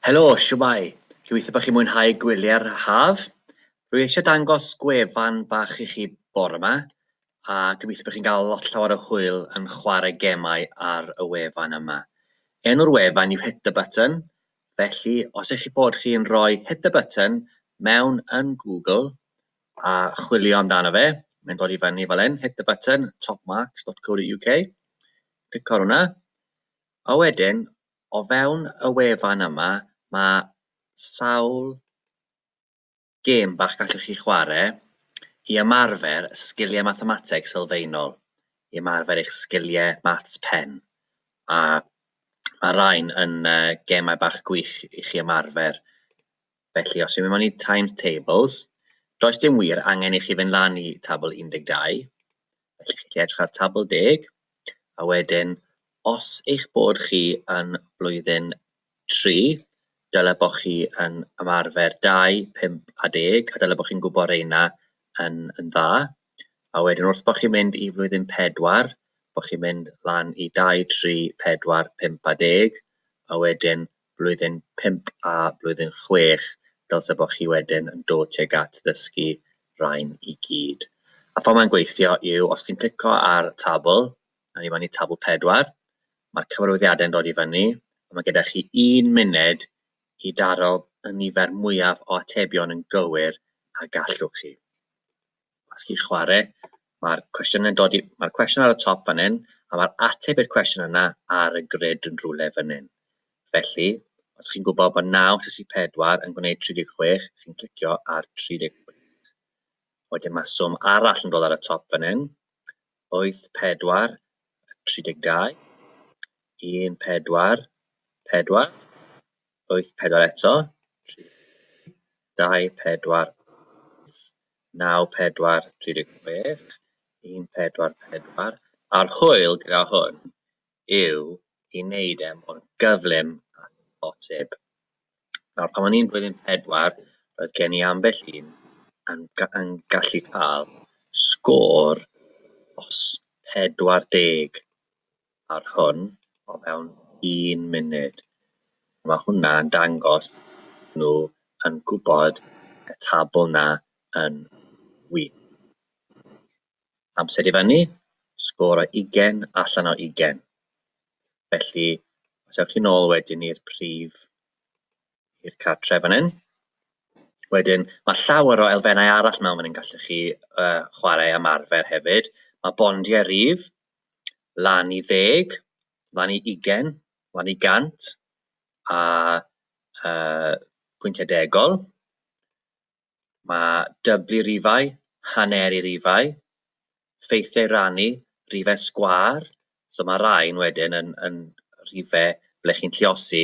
Helo, shwmae? Gobeithio bod chi'n mwynhau gwyliau'r haf. Rwy eisiau dangos gwefan bach i chi bore yma, a gobeithio bod chi'n cael lot llawer o hwyl yn chwarae gemau ar y wefan yma. Enw'r wefan yw Hit the Button, felly os eich bod chi'n rhoi Hit the Button mewn yn Google a chwilio amdano fe, mae'n dod i fyny fel hyn, Hit the Button, topmarks.co.uk. Clic ar hwnna. A wedyn, o fewn y wefan yma, mae sawl gêm bach gallwch chi chwarae i ymarfer sgiliau mathemateg sylfaenol, i ymarfer eich sgiliau maths pen, a mae rhain yn yy gemau bach gwych i chi ymarfer Felly, os dwi'n mynd mewn i Times Tables, does dim wir angen i chi fynd lan i tabl 12. Felly, chi'n edrych ar tabl deg, a wedyn, os eich bod chi yn blwyddyn 3, dyle bod chi yn ymarfer 2, 5 a 10, a dyle bod chi'n gwybod reina yn, yn dda. A wedyn, wrth bod chi'n mynd i flwyddyn 4, bod chi'n mynd lan i 2, 3, 4, 5 a 10, a wedyn, blwyddyn pump a blwyddyn chwech dylse bod chi wedyn yn dod tuag at ddysgu rhain i gyd. A ffordd mae'n gweithio yw os chi'n clico ar tabl, a ni fan i tabl pedwar, mae'r cyfarwyddiadau'n dod i fyny, a mae gyda chi un munud i daro y nifer mwyaf o atebion yn gywir a gallwch chi. os chi'n chwarae, mae'r cwestiwn yn dod i... Mae'r cwestiwn ar y top fan hyn, a mae'r ateb i'r cwestiwn yna ar y grid yn rhywle fan hyn. Felly, os chi'n gwybod bod 934 yn gwneud 36, chi'n clicio ar 36. Wedyn mae swm arall yn dod ar y top fan hyn. 84, 32, 14, 4, wyth pedwar eto, tri dau pedwar wyth naw pedwar tri deg chwech, un pedwar pedwar, a'r hwyl gyda hwn yw i wneud e mor gyflym â phosib. Nawr pan o'n i'n blwyddyn pedwar, roedd gen i ambell un yn ga- yn gallu cael sgôr os pedwar deg ar hwn o fewn un munud. Mae hwnna'n dangos nhw yn gwybod y tabl 'na yn wych. Amser i fyny, sgôr o ugain allan o ugain. Felly, os ewch chi nôl wedyn i'r prif... i'r cartref fan hyn. Wedyn, mae llawer o elfennau arall mewn fan hyn gallwch chi yy chwarae ymarfer hefyd. Mae bondiau rif, lan i ddeg, lan i ugain, lan i gant, a yy pwyntiau degol. Mae dyblu rifau, haneru rifau, ffeithiau rhannu, rifau sgwâr, so mae rhain wedyn yn yn rhifau ble chi'n galluosi